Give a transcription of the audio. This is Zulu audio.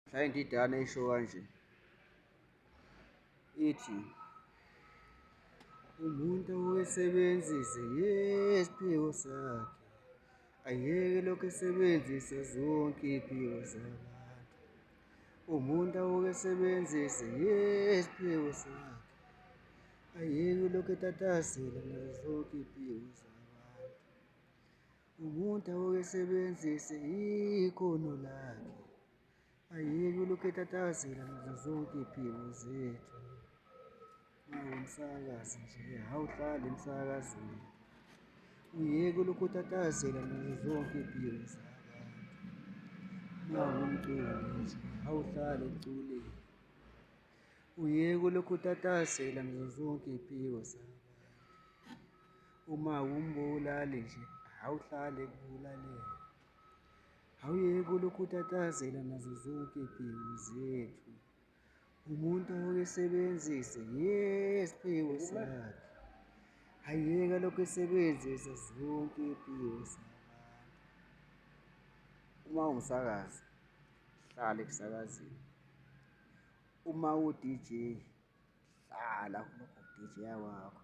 Client idana isho kanje ithi umuntu owesebenzise yesiphiwo sakhe ayeke lokhu esebenzise zonke iy'phiwo zabantu umuntu awuke esebenzise yesiphiwo sakhe ayeke lokhu etatasela nazo zonke iy'phiwo zakhe Umuntu awukesebenzise ikhono lakhe, ayeke ulokhu etatazela nazo zonke iy'phiko zethu. Ungumsakazi nje, awuhlali emsakazweni. Uyeke ulokhu utatazela nazo zonke iy'phiko zabantu. Ungumculi nje, awuhlali emculweni. Uyeke ulokhu utatazela nazo zonke iy'phiko zabantu. Uma umbulali nje awuhlale kulalele awuyeke ulokhu utatazela nazo zonke iy'phiwo zethu umuntu awuyisebenzise yesiphiwo sakhe ayeka lokhu esebenzisa zonke iy'phiwo zakhe uma ungusakazi hlala ekusakazini uma u-DJ hlala kulokho DJ wakho